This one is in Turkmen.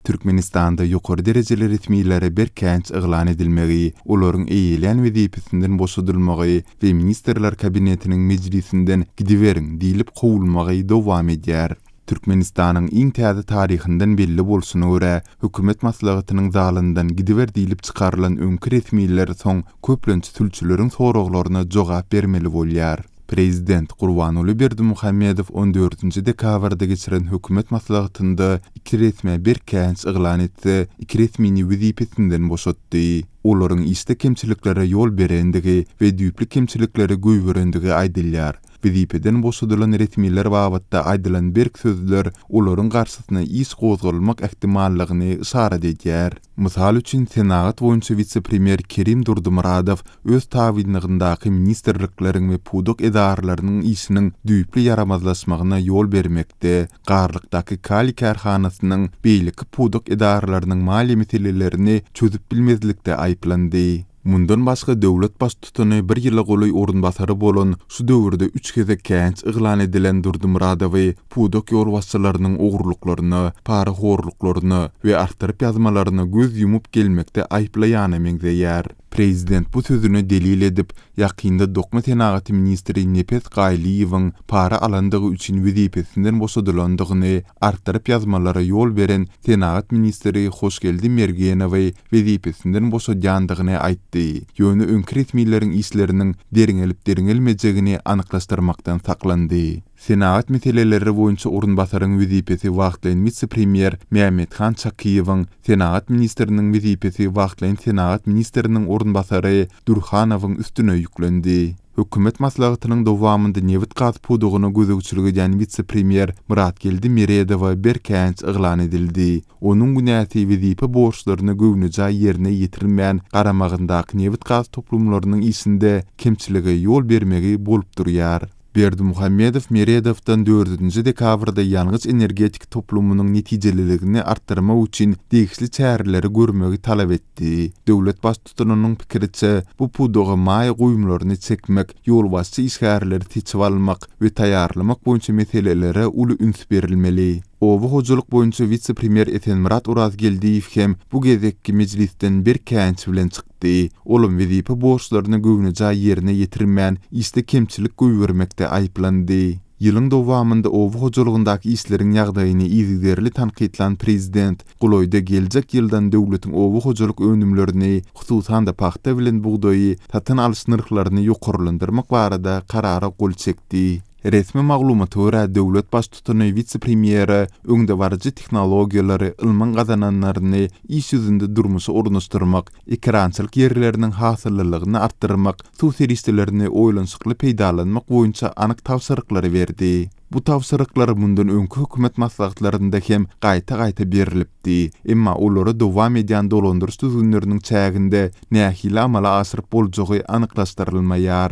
Türkmenistanda ýokary derejeli resmilere berkänç yglan edilmegi, olaryň eýelän wezipesinden boşadylmagy we Ministrler Kabinetiniň mejlisinden gidiberiň diýlip kowulmagy dowam edýär. Türkmenistanyň iň täze taryhyndan belli bolşuna görä, hökümet maslahatynyň zalyndan gidiber diýlip çykarylan öňki resmiler soň köplenç sülçüleriň soraglaryna jogap bermeli bolýar. Prezident Gurbanguly Berdimuhamedow on dördünji dekabrda geçiren hökümet maslahatynda iki resmä berkänç yglan etse, iki resmini wezipesinden boşatdy. Olaryň işde kemçiliklere ýol berendigi we düýpli kemçilikleri goýberendigi aýdylýar. Wezipeden boşadylan resmiler babatda aýdylan berk sözler olaryň garşysyna iş gozgalmak ähtimallygyny yşarat edýär. Mysal üçin, senagat boýunça wise-premýer Kerim Durdymyradow öz tabynlygyndaky ministrlikleriň we pudak edaralarynyň işiniň düýpli ýaramazlaşmagyna ýol bermekde, Garlykdaky kaliý kärhanasynyň beýleki pudak edaralarynyň maliýe meselelerini çözüp bilmezlikde aýyplandy. Mundan başga döwlet baştutany bir ýyla golaý orunbasary bolan, şu döwürde üç gezek käýinç yglan edilen Durdymyradowy pudak ýolbaşçylarynyň ogurlyklaryna, parahorluklaryna we artdyryp ýazmalaryna göz ýumup gelmekde aýyplaýana meňzeýär. Prezident bu sözüni delil edip, ýakynda dokma senagaty ministri Nepes Gaýlyýewiň para alandygy üçin wezipesinden boşadylandygyny, artdyryp ýazmalara ýol beren senagat ministri Hoşgeldi Mergenowy wezipesinden boşadýandygyny aýtdy, ýöne öňki resmileriň işleriniň derňelip-derňelmejegini anyklaşdyrmakdan saklandy. Senagat meseleleri boýunça orunbasaryň wezipesi wagtlaýyn wise-premýer Mämmethan Çakyýewiň, senagat ministriniň wezipesi wagtlaýyn senagat ministriniň orunbasary Dürhanowyň üstüne ýüklendi. Hökümet maslahatynyň dowamynda nebit-gaz pudagyna gözegçilik edýän wise-premýer Myratgeldi Meredowa berkänç yglan edildi. Onuň günäsi wezipe borçlaryny göwnejaý ýerine ýetirmän garamagyndaky nebit-gaz toplumlarynyň işinde kemçilige ýol bermegi bolup durýar. Berdimuhamedow Meredowdan dördünji dekabrda ýangyç-energetika toplumynyň netijeliligini artdyrmak üçin degişli çäreleri görmegi talap etdi. Döwlet Tutunynyň pikiriçe, bu pudaga maýa goýumlaryny çekmek, ýolbaşçy işgärleri seçip almak we taýýarlamak boýunça meselelere uly üns berilmeli. Oba hojalyk boýunça wise-premýer Esenmyrat Orazgeldiýew hem bu gezekki mejlisden berk käýinç bilen çykdy. Olam wezipe borçlaryny göwnejaý ýerine ýetirmän, işde kemçilik goýbermekde aýyplandy. Ýylyň dowamynda oba hojalygyndaky işleriň ýagdaýyny yzygiderli tankytlan Prezident, golaýda geljek ýyldan döwletiň oba hojalyk önümlerini, hususan-da, pagta bilen bugdaýy satyn alyş nyrhlaryny ýokarlandyrmak barada Karara gol çekdi. Resmi maglumata görä, döwlet Baştutany wise-premýere öňdebaryjy tehnologiýalary, ylmyň gazananlaryny iş ýüzünde durmuşa ornaşdyrmak, ekerançylyk ýerleriniň hasyllylygyny artdyrmak, suw serişdelerini oýlanyşykly peýdalanmak boýunça anyk tabşyryklary berdi. Bu tabşyryklar mundan öňki hökümet maslahatlarynda hem gaýta-gaýta berlipdi, emma olary dowam edýän dolandyryş düzgünleriniň çäginde nähili amala aşyryp boljagy anyklaşdyrylmaýar.